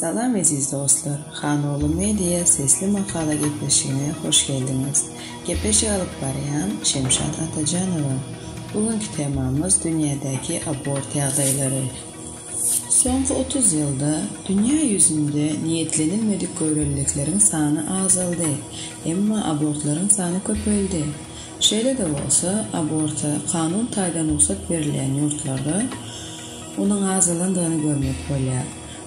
Salam eziz dostlar! Hanogly Media sesli makala gepleşigine hoş geldiňiz! Gepleşik alyp barýan Şemşat Atajanowa. Bu günki temamyz dünýädäki abort ýagdaýlary. Soňky otuz ýylda dünýä ýüzünde niýetlenilmedik göwreliliklerin sany azaldy, emma abortlaryň sany köpeldi. Şeýle-de bolsa, aborta kanun taýdan rugsat berilýän ýurtlarda onuň azalandygyny görmek bolýar.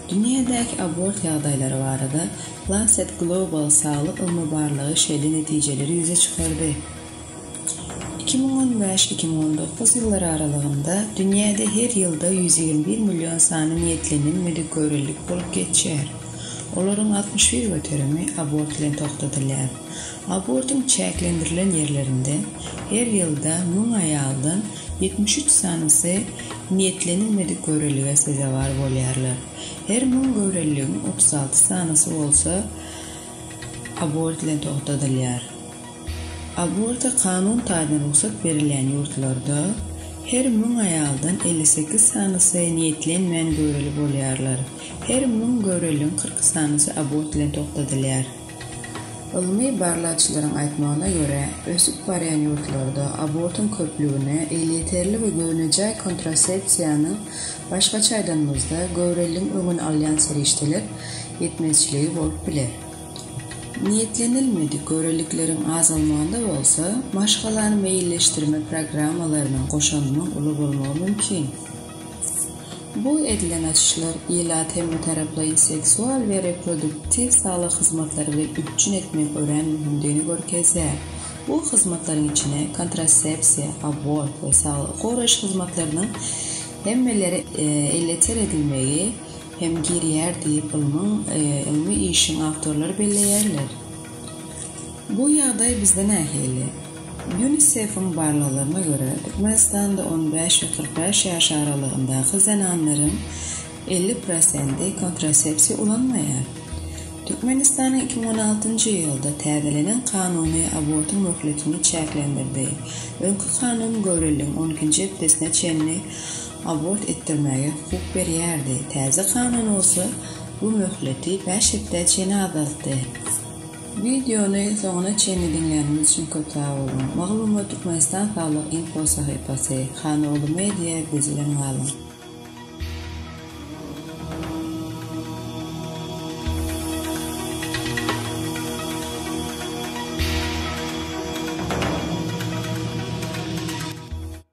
Dünýädäki abort ýagdaýlary barada Lancet Global saglyk ylmy barlagy şeýle netijeleri ýüze çykardy, iki müň on bäş, iki müň on dokuz ýyllary aralygynda dünýäde her ýylda ýüz ýigrimi bir million sany niýetlenen müdikörellik bolup geçýär, olaryň altmyş bir göterimi abort bilen togtadylýar. Abortyň çäklendirilen ýerlerinde her ýylda müň aýaldan Ýetmiş üç sanysy niýetlenilmedik göwrelilige sezewar bolýarlar. Her müň göwreliligiň otuz alty sanysy bolsa abort bilen togtadylýar. Aborta kanun taýdan rugsat berilýän ýurtlarda her müň aýaldan elli sekiz sanysy niýetlenmän göwreli bolýarlar. Her müň göwreliligiň kyrk sanysy abort bilen togtadylýar. Ylmy barlagçylaryň aýtmagyna görä, ösüp barýan ýurtlarda abortuň köplügine elýeterli we göwnejaý kontrasepsiýanyň, başgaça aýdanymyzda, göwreligiň öňüni alýan serişdeler, ýetmezçiligi bolup biler. Niýetlenilmedik görelikleriň azalmagynda bolsa, maşgalany meýilleşdirme programmalarynyň goşandynyň uly bolmagy mümkin. Bu edilen açyşlar ilat hemmetaraplaýyn seksual we reproduktiw saglyk hyzmatlary bilen üpjün etmegiň örän möhümdigini görkezýär. Bu hyzmatlaryň içine kontrasepsiýa, abort we saglygy goraýyş hyzmatlarynyň hemmelere elýeter edilmegi hem girýär diýip, ylmyň ylmy işiň awtorlary belleýärler. Bu ýagdaý bizde nähili? Ýunisefiň barlaglaryna görä, Türkmenistanda on bäş we kyrk bäş ýaş aralygyndaky zenanlaryň elli prosenti kontrasepsiýa ulanmaýar. Türkmenistanyň iki müň on altynjy ýylda täzelenen kanuny abortyň möhletini çäklendirdi. Öňki kanun göwreligiň on ikinji hepdesine çenli abort etdirmäge hukuk berýärdi, täze kanun bolsa bu möhleti bäş hepdä çenli azaltdy. Wideony soňuna çenli diňläniňiz üçin köp sag boluň. Maglumat Türkmenistan saglyk info sahypasy, Hanoglu media biz bilen galyň.